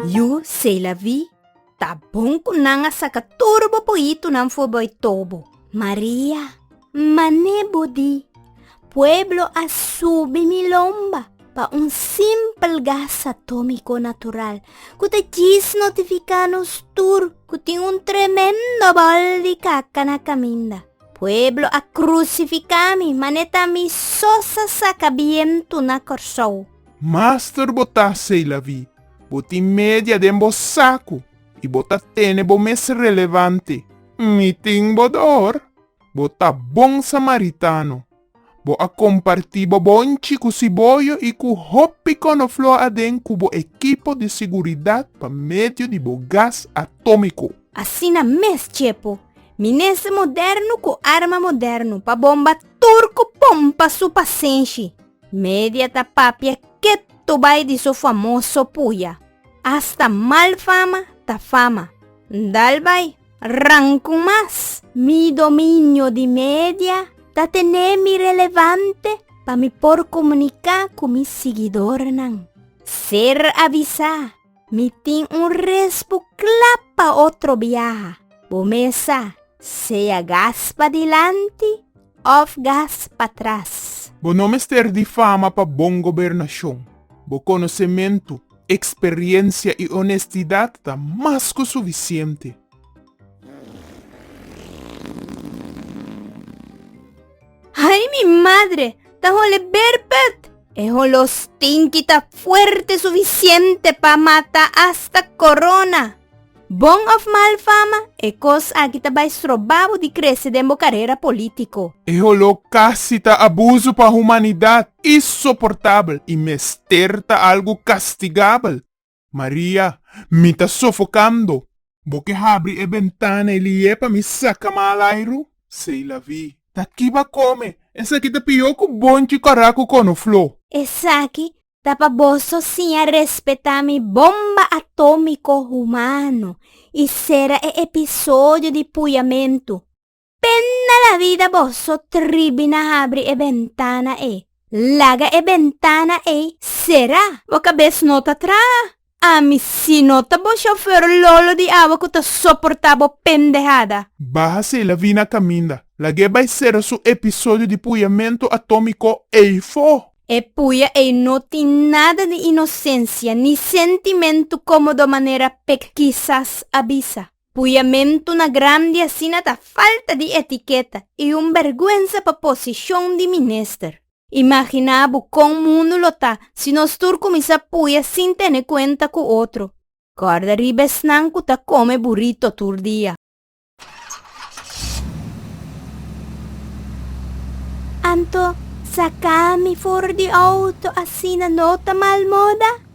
Yu, Seilavi, ta bon ku nan a saka tur bo pohitunan for boi tobo. Maria, Mané bo di, pueblo a subi mi lomba pa un simpel gas atómiko natural ku ta djis notifiká nos tur ku tin un tremendo bòl di kaka na kaminda. Pueblo a krusifiká mi, mané ta mi sos a saka bientu na Kòrsou. Master bo ta seilavi, bo tin media den bo saku i bo ta tene bo mes relevante. N i tin bo dor, bo ta bon samaritano, bo a komparti bo bonchi ku siboyo i ku hopi konofló aden ku bo ekipo di siguridat pa medio di bo gas atómiko. Asina mes chepu, minester modernu ku arma modernu pa bomba tur ku pompa su pasenshi. Media ta papia ketu bai di so famoso puya. Hasta mal fama ta fama. Ndal bai, rankun mas! Mi dominio di media ta tene mi relevante pa mi por komuniká ku mi sigidornan. Ser avisá. Mi tin un respu kla pa otro biaha. Bo mes sa, sea gas padilanti òf gas patras. Bo no mester difama pa bon gobernashon. Bo konosementu, eksperiensia i onestidat ta mas ku sufisiente. Ay mi madre! Ta hole berpet! E holo stinki ta fuerte sufisiente pa mata asta corona. Bon of mal fama, e cos aki ta bay stroba bo di crece den bo carera politico. E holo casi ta abuso pa humanidad, insoportabel y mester ta algo castigabel. Maria, Mi ta sofokando! Bo ke habri e bentana e liye pa mi saka malairu? Seilavi, Ta kiba kome! Esaki ta pihó ku bonchi kòrá ku konofló. Esaki ta pa boso siña respetá mi bomba atómiko humano i sera e episodio di puyamentu. Pena la vida boso tribi na habri e bentana ei. Laga e bentana ei sera. Bo cabes no ta traha? Ami si no ta bo chauffeur lolo di awa cu ta soporta bo pendehada. Baha si la vina caminda. Lag'e bai sera su episodio di puyamento atomico ei fo. E puya ei no tin nada di inocencia ni sentimento como do manera pek kisas a bisa. Puyamentunan grandi asina ta falta di etiketa i un bèrgwensa pa posishon di minister. Imaginá bo kon mundu lo ta si nos tur kuminsá puya sin tene kuenta ku otro. Kòrda riba esnan ku ta kome burito tur dia. Anto, saka mi for di outo asina no ta malmoda?